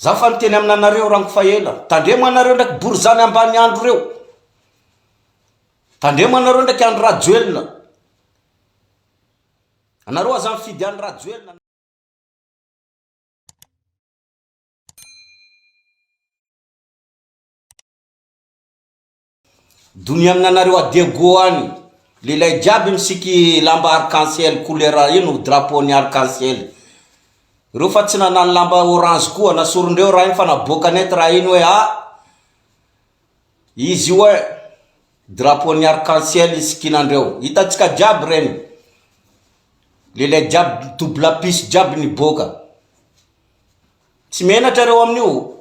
Za fa niteny aminanareo ranko fa ela. Tandremo anareo ndraiky borizany ambaniandro reo. Tandremo anareo ndraiky Andry Rajoelina. Anareo aza mifidy Andry Rajoelina. Doniamina anareo à Diego any, lehilahy jiaby misiky lamba arc en ciel couleur ino drapeau ny arc en ciel reo fa tsy nanano lamba orange koa nasorondreo raha iny fa naboaka net raha iny hoe ah izy io eh drapeau ny arc en ciel isikinandreo hitantsika jiaby reny lehilahy jiaby double piso jiaby niboaka tsy menatra reo amin'io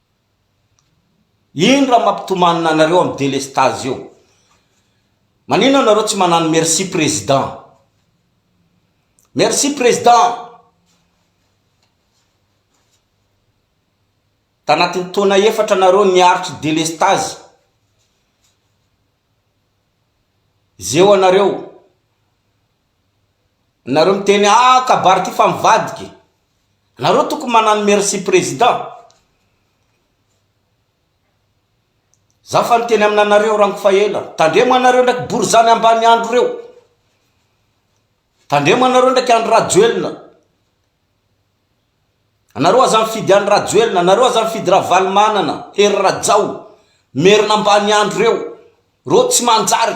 Ino raha mampitomanina anareo am delestage eo? Manino anareo tsy manano merci president? Merci president! Tanatin'ny taona efatra nareo niaritry delestage, zeo anareo Nareo miteny ah kabary ty fa mivadiky. Nareo tokony manano merci président. Zaho fa niteny aminanareo ranko fa ela. Tandremo anareo ndraiky borizany ambaniandro reo. Tandremo anareo ndraiky Andry Rajoelina. Anareo aza mifidy Andry Rajoelina, anareo aza mifidy Ravalomanana, Hery Rajao, merina ambaniandro reo. Reo tsy manjary.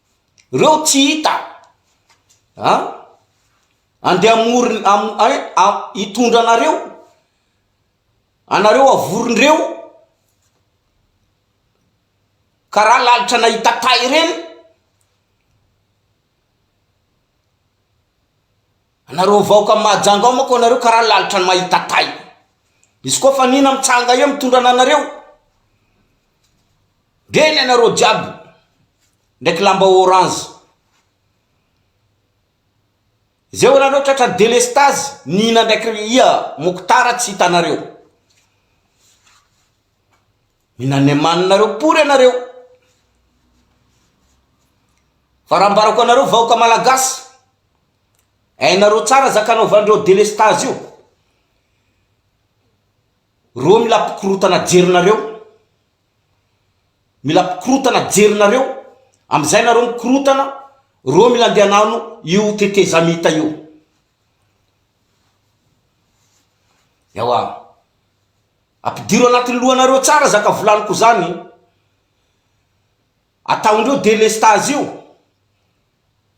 Reo tsy hita a! Andeha hamory hitondra anareo, anareo havorindreo karaha lalitra nahita tay reny, anareo vahoka Mahajanga ao manko anareo karaha lalitra mahita tay, izy koa fa anina mitsanga eo mitondra anareo. Dia ny anareo jiaby ndraiky lamba orange Zay olanareo tratran'ny delestazy Nina ndraiky ry ia Mokotara tsy hitanareo Mila nemananareo pory anareo Fa raha ambarako anareo vahoka malagasy Hainareo tsara zakanaovandreo delestazy io Reo mila mpikorotana jerinareo Mila mpikorotana jerinareo amizay nareo mikorotana reo mila ndeha nano io tetezamita io ewa apidiro anatiny lohanareo tsara zaka volaniko zany ataondreo delestage io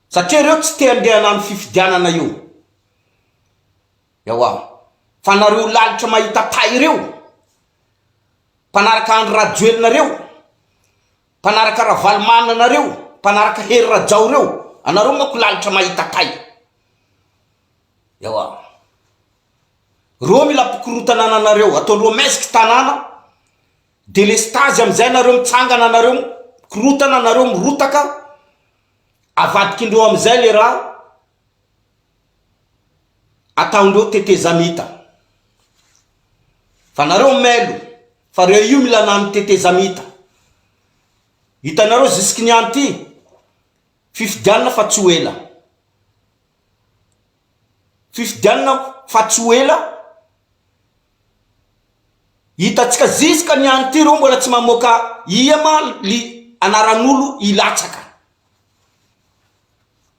satria reo tsy te andeha nano fifidianana io Ewa. Fa nareo lalitra mahita tay reo. Mpanaraka Andry Rajoelina reo. Mpanaraka Ravalomanana reo. Mpanaraka Hery Rajao reo. Anareo manko lalitra mahita tay. Ewa. Reo mila mpikorotana ananareo. Ataondreo maisk tanana. Delestazy amizay nareo mitsangana nareo mikorotana nareo mirotaka. Avadikindreo amizay le raha. Ataondreo tetezamita fa nareo mailo fa reo io mila nano tetezamita hitanareo zisiky ny any ty fifidianana fa tsy ho ela fifidianana fa tsy ho ela hitatsika zisiky ny any ty reo mbola tsy mamoaka ia ma li anaran'olo hilatsaka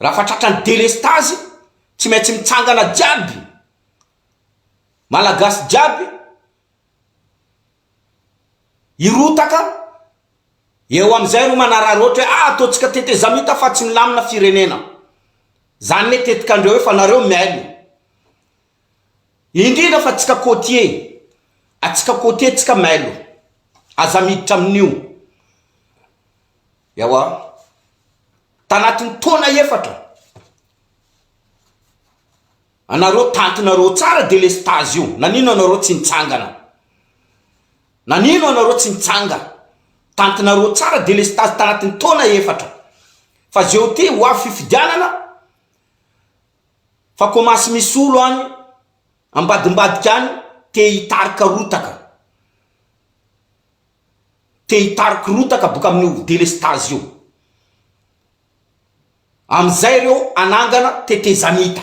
Raha fa tratran'ny delestazy tsy maintsy mitsangana jiaby Malagasy jiaby hirotaka eo amin'izay ro manararaotra hoe ah ataontsika tetezamita fa tsy milamina firenena. Zany ne tetikandreo io fa nareo mihaino. Indrindra fa tsika côtier, atsika côtier tsika mailo. Aza miditra amin'io. Ewa, tanatin'ny taona efatra, anareo tantinareo tsara delestage io, nanino anareo tsy nitsangana? Nanino anareo tsy nitsanga? Tantinareo tsara delestage tanatin'ny taona efatra. Fa zeo ty ho avy fifidianana fa komasy misolo any ambadimbadika any te hitarika rotaka. te hitariko rotaka boka amin'ny ho delestazy io amin'izay ireo hanangana tetezamita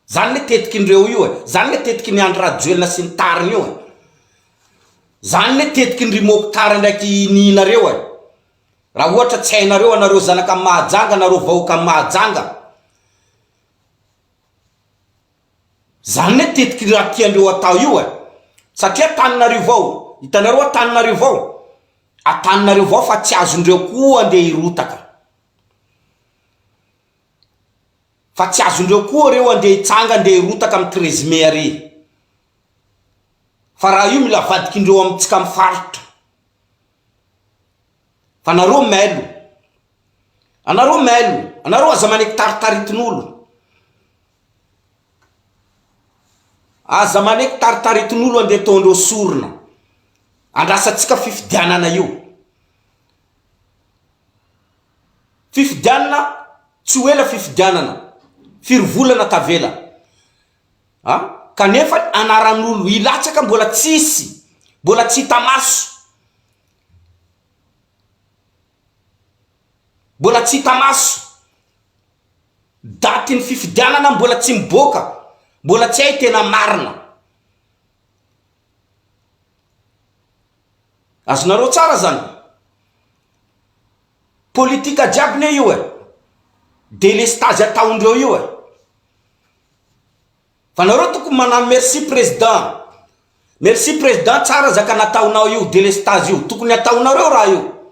zany le tetiky indreo io e zany le tetiky ny Andry Rajoelina sy ny tariny io e zany le tetiky ny ry Mokhtar ndraiky nihinareo e raha ohatra tsy hainareo anareo zanaka Mahajanga anareo vahoaka Mahajanga Zany ne tetiky raha tiandreo atao io e! Satria Antananarivo ao, hitanareo Antananarivo ao? Antananarivo ao fa tsy azondreo koa andeha hirotaka. Fa tsy azondreo koa reo andeha hitsanga andeha hirotaka am treize mai ary. Fa raha io mila avadikindreo amitsika am faritra. Fa nareo mailo. Anareo mailo. Anareo aza manekitaritaritinolon. Aza maneky taritaritin'olo andeha ataondreo sorona andrasantsika fifidianana io. Fifidianana tsy ho ela fifidianana firy volana tavela a! Kanefa anaran'olo hilatsaka mbola tsisy mbola tsy hita maso. Mbola tsy hita maso. Datin'ny fifidianana mbola tsy miboaka. Mbola tsy hay tena marina. Azonareo tsara zany? Politika jiaby ne io e. Delestazy ataondreo io e. Fa nareo tokony manano merci president. Merci president tsara zaka nataonao io delestazy io. Tokony ataonareo raha io.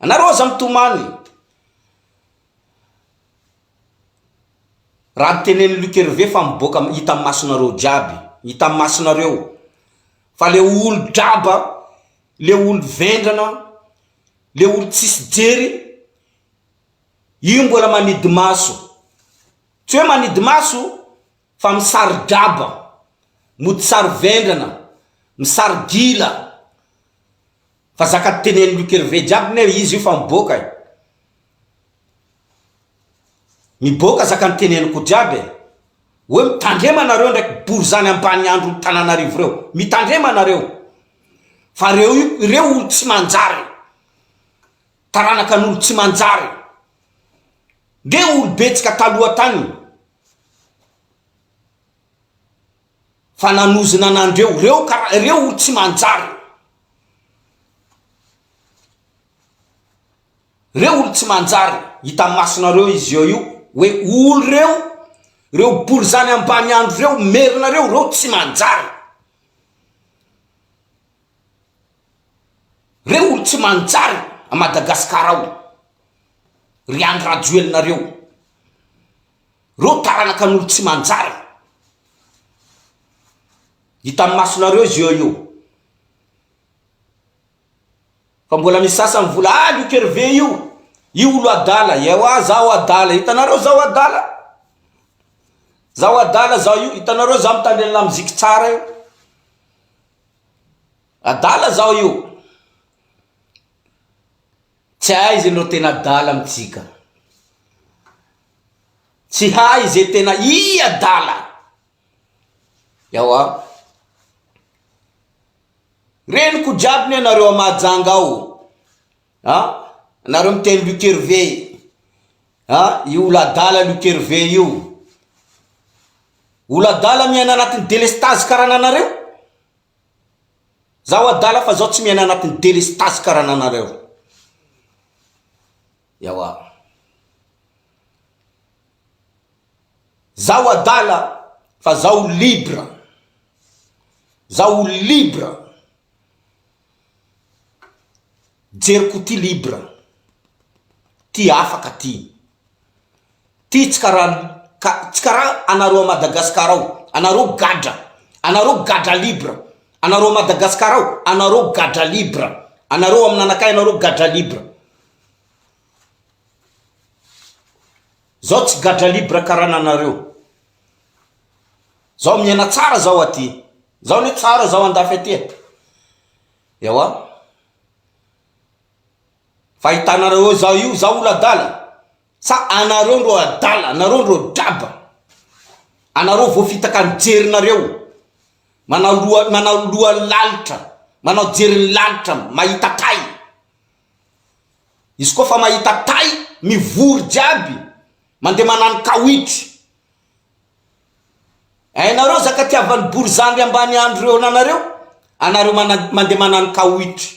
Anareo aza mitomany. Raha ny tenenin'i Luc Hervé fa miboaka hita amin'ny masonareo jiaby, hita amin'ny masonareo fa le olon-draba, le olon-vendrana, le olon-tsisy jery io mbola manidimaso. Tsy hoe manidimaso fa misari-draba, mody saro-vendrana, misari-gila. Fa zaka tenen'i Luc Hervé jiaby ne izy io fa miboaka e! Miboaka zaka niteneniko jiaby e! Hoe mitandrema nareo ndraiky borizany ambaniandron'i Tananarivo reo! Mitandrema nareo! Fa reo io ireo olo tsy manjary! Taranakan'olo tsy manjary! Ndreo olo betsaka taloha tagny! fa nanozona anandreo reo kara reo olo tsy manjary reo olo tsy manjary hitam masonareo izy eo io hoe olo reo reo bolzany ambany andro reo merina reo reo tsy manjary reo olo tsy manjary a madagasikara ao ry andry rajoelina reo Reo taranakan'olo tsy manjary. Hitan'ny masonareo izy eo io. Fa mbola misy sasany mivola ah Luc Hervé io, io olo adala, ewa zaho adala, hitanareo zaho adala? Zaho adala zaho io, hitanareo zaho mitandre ny lamoziky tsara io? Adala zaho io. Tsy hay ze no tena adala amitsika. Tsy hay ze tena y adala. Ewa. Reniko jiaby ne nareo a Mahajanga ao a. Nareo miteny Luc Hervé a. Io olo adala Luc Hervé io. Olo adala miaina anatin'ny delestazy karananareo. Zaho adala fa zaho tsy miaina anatin'ny delestazy karaha ananareo. Ewa. Zaho adala fa zaho libre. Zaho libre. Jeriko ty libre. Ty afaka ty. Ty tsy karaha ka tsy karaha anareo à Madagascar ao, anareo gadra, anareo gadra libre, anareo à Madagascar ao, anareo gadra libre, anareo ao amin'anakay anareo gadra libre. Zaho tsy gadra libre karaha anareo. Zaho miaina tsara zaho aty, zaho anie tsara zaho andafy aty e. Ewa, fa hitanareo eo zaho io, zaho ola adala, Sa anareo ndro adala, nareo ndro draba, anareo voafitaka ny jerinareo, manao loha, manao loha lalitra, manao jeriny lalitra mahita tay, izy koa fa mahita tay mivory jiaby, mandeha manano kawitry, hainareo zaka tiavan'ny borizandry ambaniandro reo nanareo, anareo mandeha manano kawitry.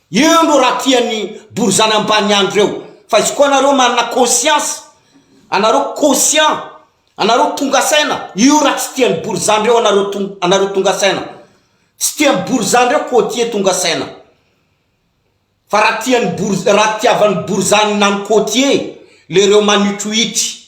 Eo no raha tian'ny borizano ambany andro eo fa izy koa anareo manana conscience anareo conscient anareo tonga saina io raha tsy tian'ny borizano reo anareo anareo tonga saina tsy tian'ny borizano reo cotier tonga saina fa raha tian'ny borizano raha tiavan'ny borizano na ny cotier le reo manitrohitry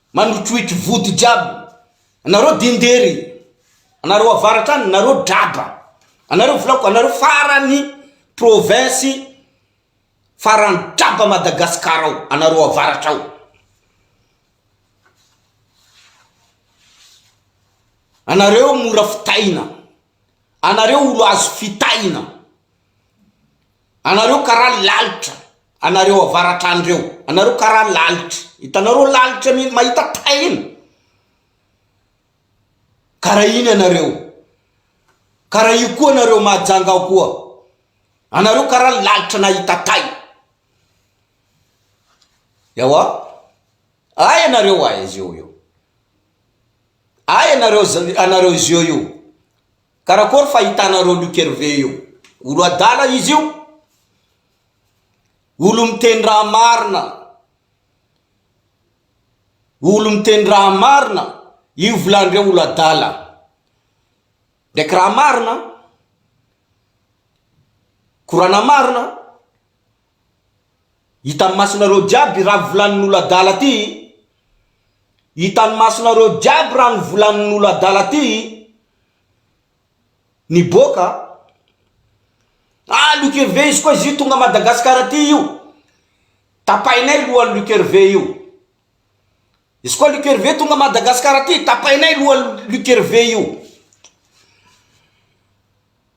Mandrotroitro vody jiaby anareo dindery anareo avaratra any nareo draba anareo volako anareo farany province farany draba Madagascar ao anareo avaratra ao anareo mora fitaina anareo olo azo fitaina Anareo karaha lalitra anareo avaratrany reo anareo karaha lalitra itanareo lalitra mihiny mahita tahina karaha iny anareo karaha io koa anareo mahajanga ao koa anareo karaha lalitra nahita tay ewa ay anareo ay izy eo io ay anareo anareo izy eo io Karakory fa hitanareo Luc Hervé io? Olo adala izy io? Olo miteny raha marina, olo miteny raha marina, io volandreo olo adala ndraiky raha marina, korana marina, Hitan'ny masonareo jiaby ra volanin'olo adala ty i. Hitan'ny masonareo jiaby ra ny volanin'olo adala ty i. Niboaka a. Ah Luc Hervé izy koa izy io tonga Madagascar ty io. Tapahinay lohan'i Luc Hervé io. Izy koa Luc Hervé tonga Madagascar ty tapahinay lohan'i Luc Hervé io.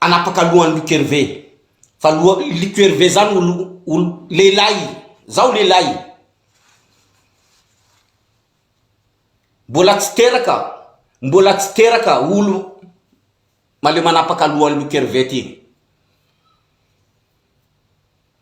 hanapaka lohany Luc Hervé fa loha Luc Hervé zany olo olo lehilahy zaho lehilahy mbola tsy teraka mbola tsy teraka olo maleo manapaka lohany Luc Hervé ty.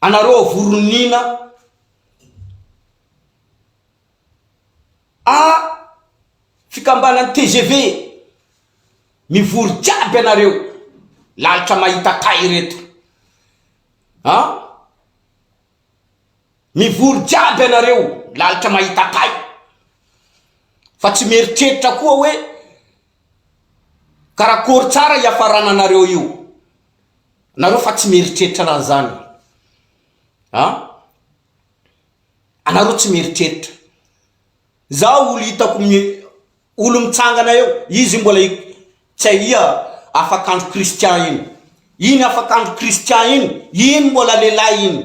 Anareo avoronina a fikambanan'ny tgv mivory jiaby anareo lalitra mahita tay ireto a mivory jiaby anareo lalitra mahita tay fa tsy mieritreritra koa hoe Karakôry tsara hiafarana anareo io? Anareo fa tsy mieritreritra raha zany a! Anareo tsy mieritreritra. Zaho olo hitako olo mitsangana eo, izy io mbola tsy ahia afakandro Christian iny. Iny afakandro Christian iny, iny mbola lehilahy iny.